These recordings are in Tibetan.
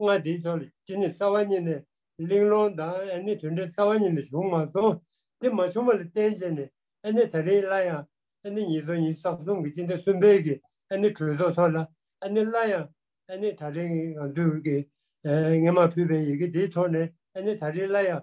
ལྔ་དེའི་ཕྱོགས་ལ་ཅི་ནུས་རྩ་བ་ཉིད་ནས་གླེང་སློང་དང་ཨེ་ནི་དོན་འབྲས་རྩ་བ་ཉིད་ལ་བྱུང་མ་སོང། དེ་མ་བྱུང་བ་ལ་བརྟེན་བྱས་ནས་ཨེ་ནི་ད་རིང་སླར་ཡང་ཨེ་ནི་ཉིས་སྟོང་ཉིས་བརྒྱ་རྩ་གསུམ་གྱི་སྤྱི་ཟླ་གསུམ་པའི་གི་ཨེ་ནི་གྲོས་ཚོགས་ཐོག་ལ་ཨེ་ནི་སླར་ཡང་ཨེ་ནི་ད་རིང་ང་ཚོས་ཀྱིས་ངེས་མ་ཕུལ་བའི་ཡི་གེ་དེའི་ཐོག་ནས་ཨེ་ནི་ད་རིང་སླར་ཡང་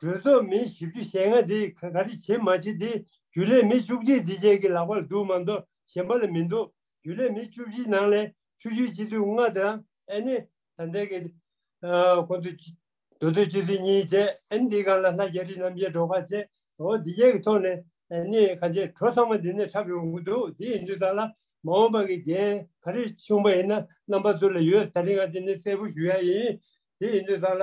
གྲོས་ཚོགས་མི་བཞི་བཅུ་ཞེ་ལྔ་དེ་ག་རེ་བྱེད་མ་བྱེད་དེ་རྒྱུན་ལས་མི་བཅུ་གཅིག་འདི་བཅས་ཀྱི་ལག་པར་འདུག་མ་མདོ་གཞན་པ་ལ་མི་འདུག་རྒྱུན་ལས་མི་བཅུ་བཞིའི་ནང་ལས་ཆུ་ཤུལ་སྤྱི་འཐུས་ལྔ་དང་ཨན་ནེ་ད་འདས་ཀྱི་ཁོང་དུ་མདོ་སྟོད་སྤྱི་འཐུས་གཉིས་བཅས་ཨན་འདི་གང་ལ་ལྷ་རྒྱ་རི་རྣམ་རྒྱལ་གྲོ་ཁ་བཅས་འོ་འདི་བཅས་ཀྱི་ཐོག་ནས་ཨན་ནེ་ག་རྗེས་གྲོ་ཚང་མ་འདི་ནས་འཁྲབ་ཡོང་གི་འདུག་དེ་ཡིན་དུས་ད་ལ་མ་འོངས་པ་གི་འགན་ག་རེ་ཆུང་པ་ཡིན་ན་རྣམ་པ་ཚུར་ལ་ཡོད་ད་རེས་ང་འདི་ནས་གསལ་པོ་ཞུ་ཡ་ཡིན་དེ་ཡིན་དུས་ད་ལ།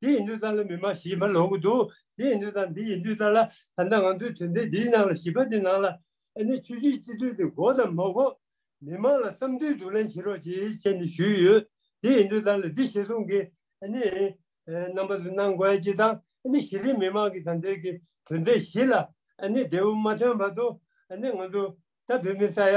དེ་ཡིན་དུས་ཙང་ལ་མི་མ་ཞིག་མ་ལོག་གི་འདུག་དེ་ཡིན་དུས་ཙང་འདི་ཡིན་དུས་ཙང་ལ་ད་ལྟ་ང་ཚོའི་དོན་དེ་འདིའི་ནང་ལ་བྱིས་པ་འདི་ནང་ལ་ཨ་ནེ་ཆོས་རྗེའི་སྤྱི་འཐུས་འདི་གོ་དང་མ་གོ། མི་མང་ལ་བསམ་འདུན་བསྡུ་ལེན་བྱེད་རོགས་ཅེས་བཅས་ནས་ཞུས་ཡོད། དེ་ཡིན་དུས་ཙང་ལ་འདི་ཞེ་སྡོང་གིས་ཨ་ནེ། རྣམ་པ་ཚོས་གནང་དགོས་ཀྱི་དང་ཨ་ནེ་གཞི་རིམ་མི་མང་གི་དང་འདིར་གི་དོན་དེ་བཞི་ལ་ཨ་ནེ་འབྲས་བུ་མ་ཐོན་བར་དུ་ཨ་ནེ་ང་ཚོ་ད་བོད་མི་ས་ཡ་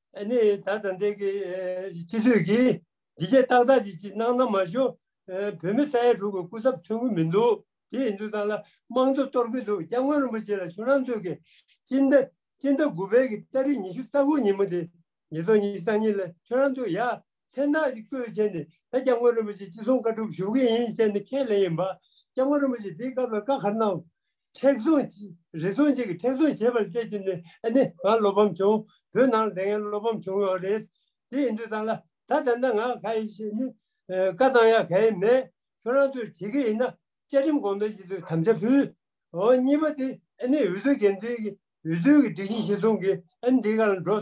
ནི་ད་ད་འདི་གི་སྤྱི་འཐུས་ཀྱིས་འདི་ཅད་ཏག་ཏག་ཅིག་ཅིག་གནང་ན་མ་གཞུག་བོད་མི་ས་ཡ་དྲུག་གི་སྐུ་ཚབ་མཐུན་གི་མི་འདུག་དེ་ཡིན་དུས་ཚང་ལ་དམངས་གཙོ་གཏོར་གི་འདུག་སྐྱབས་མགོན་རིན་པོ་ཆེ་ལ་ཆུ་ནང་འདུག་གི་སྤྱི་ཟླ་སྤྱི་ཟླ་དགུ་པའི་གི་སྟ་རི་ཉི་ཤུ་རྩ་དགུ་ཉིན་མོ་དེ་ཉིས་སྟོང་ཉིས་གཙང་ཉིན་ལ་ཆུ་ནང་འདུག་ཡ་མཚན་རྟགས་ཤིག་གཙོ་བོས་བྱས་ནས་ད་སྐྱབས་མགོན་རིན་པོ་ཆེ་ཅི་གསུང་བཀའ་སྒྲུབ་ཞུ་གི་ཡིན་བཤད་ནས་ཁས་ལེན་ཡིན་པ། སྐྱབས་མགོན་རིན་པོ་ཆེས་དེའི་སྐབས་ལ་བཀའ་ཁ་གནང། མཁྲེགས་བཟུང། རེ་ཟུང་གཅིག་གིས་མཁྲེགས་བཟུང་བྱས་པར་བལྟས་ཀྱིན་ནས་ཨ་ནི་ང་བློ་ཕམ་བྱུང། བོད་ནང་ལ་དེ་སྔའི་བློ་ཕམ་བྱུང་ཡོད་རེད། དེ་ཡིན་དུས་ད་ལ་ད་ད་ནི་ང་ག་ཡིན་ཞེས་ནི། བཀའ་གཙང་ཡག་ག་ཡིན་མེད། ཁྱོད་རང་ཚོས་བྱེད་ཀྱི་ཡིན་ན་བཅའ་ཁྲིམས་དགོངས་དོན་ཞིག་ཚོས་དམ་བཅའ་ཕུལ། འོ་གཉིས་པ་དེ་ཨ་ནི་འོས་བསྡུ་འགན་འཛིན་གྱིས་འོས་བསྡུའི་གི་སྒྲིག་གཞི་ཞིག་བཟུང་གིས་ཨ་ནི་དེའི་ཁ་ལ་འགྲོ།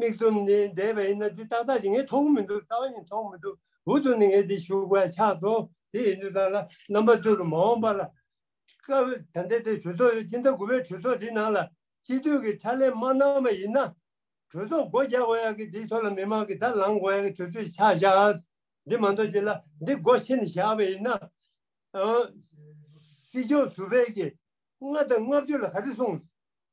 མིག་ཟུམ་ནས་བསྡད་པ་ཡིན་ན་འདི་ཏག་ཏག་ཅིག་ངས་མཐོང་གི་མི་འདུག་རྩ་བ་ནས་མཐོང་མི་འདུག་འུ་ཐུག་ནས་ངས་འདི་བཞུགས་པ་ཕྱག་ཐོ་དེ་ཡིན་དུས་ཚང་ལ་རྣམ་པ་ཏུ་རུ་མ་འོངས་པ་ལ། སྐབས་ད་ལྟའི་དེ་གྲོས་ཚོགས་ཡོད་སྤྱི་ཟླ་དགུ་པའི་གྲོས་ཚོགས་དེའི་ནང་ལ་སྤྱི་འཐུས་ཀྱི་ཕྱག་ལས་མ་གནང་བ་ཡིན་ན། གྲོས་ཚོགས་སྒོ་རྒྱག་དགོས་ཡག་གི་འདིའི་ཐོག་ལ་མི་མང་གི་དར་ལངས་དགོས་ཡག་གི་དུས་ཚོད་ཆགས་བཞག་འདི་མ་འདོར་རྗེས་ལ་འདི་སྒོ་ཕྱེ་ནས་བཞག་པ་ཡིན་ན། སྲིད་སྐྱོང་ཟུར་བས་ཀྱིས་ལྔ་དང་ལྔ་བཅུ་ལ་ག་རེ་གསུངས།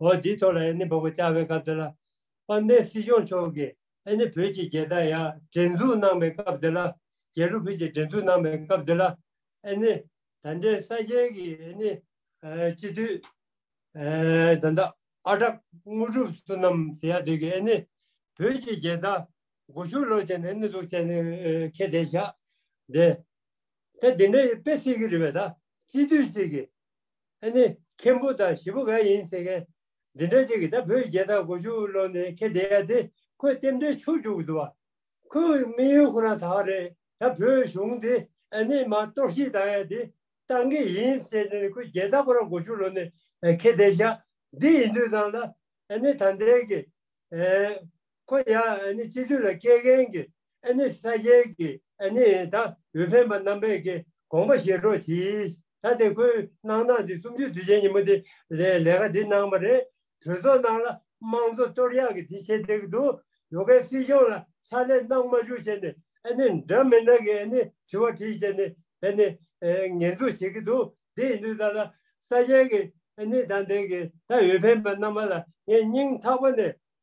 འོག་འདིའི་ཐོག་ལ་ཨེ་ནི་འབོ་གོ་བཅར་བའི་སྐབས་དེ་ལ་དཔལ་ལྡན་སྲིད་སྐྱོང་མཆོག་གིས་ཨེ་ནི་བོད་ཀྱི་རྒྱལ་དར་ཡང་བསྒྲེངས་འཛུགས་གནང་པའི་སྐབས་དེ་ལ་རྒྱལ་གླུ་ཕུད་ཀྱིས་བསྒྲེངས་འཛུགས་གནང་པའི་སྐབས་དེ་ལ་ཨེ་ནི་ད་ལྟའི་ས་སྐྱའི་གི་ཨེ་ནི་སྤྱི་འཐུས་ཨེ་ད་ལྟ་ཨ་གྲགས་དངོས་གྲུབ་བསོད་ནམས་ཟེར་ཡ་དོད་ཀྱིས་ཨེ་ནི་བོད་ཀྱི་རྒྱལ་དར་སྒོ་ཕྱུགས་ལོག་བྱས་ནས་ཨེ་ནི་འཛུགས་བྱས་ནས་ཁེ་དེ་བཞག་དེ་ད་དེ་འདྲ་ཡི་དཔེ་སྲིད་གི་རི་བས་ད་སྤྱི་འཐུས་གཅིག་གིས་ཨ་ནི་མཁན་པོ་དང་བཞི་པོ་ག་ཡིན་ཟེར་མཁན་འདི་འདྲ་ཅིག་གིས་ད་བོད་རྒྱལ་དར་དགུ་བཅུ་བློ་ནས་ཁྱེད་བསྡད་ཡ་དེ་ཁོས་རྟེན་འབྲེལ་འཆུག་འཇུག་གི་འདུག་བ། ཁོས་དམིགས་ཡུལ་ཁོ་ན་དག་རེད་ད་བོད་གཞུང་དེ་ཨ་ནི་མ་གཏོར་བཤིག་བཏང་ཡ་དེ་བཏང་གི་ཡིན་ཟེར་ནས་ནི་ཁོས་རྒྱལ་དར་དགུ་ར་དགུ་བཅུ་བློ་ནས་ཁྱེད་བསྡད་བཞག་འདི་ཡིན་དུས་ཚང་ལ་ཨ་ནི་ད་འདས་ཀི། ཁོ་ཡང་ཨ་ནི་སྤྱི་འཐུས་ལ་སྐྱེལ་མཁན་གྱི་ཨ་ནི་ས་སྐྱའི་གི་ཨ་ནི་ད་འོས་འཕེན་པ་རྣམ་པས་གི་དགོངས་པ་བཞེས་རོགས་གྱིས་ད་དེ་ཁོའི་གནང་སྟངས་འདི་གསུམ་བཅུ་དུས་ཆེན་ཉིན་མོ་དེ་ལས་ལས་ཀ་འདི་གནང་བ་རེད་གྲོས་ཚོགས་ནང་ལ་དམངས་གཙོ་གཏོར་གཡག་གི་དེ་བྱེད་འདེག་འདུག་ཡོ་གའི་སྲིད་སྐྱོང་ལ་ཕྱག་ལས་གནང་མ་བཅུག་བྱས་ནི་ཨ་ནི་འདྲ་མི་འདྲ་གི་ཨ་ནི་དྲི་བ་དྲིས་བྱས་ནི་ཨ་ནི་ངན་འཛུགས་བྱེད་གི་འདུག་དེ་ཡིན་དུས་ད་ལ་ས་སྐྱའི་གི་ཨ་ནི་ད་འདེག་གི་ད་འོས་འཕེན་པ་རྣམ་པ་ལ་ངས་སྙིང་ཐག་པ་ནས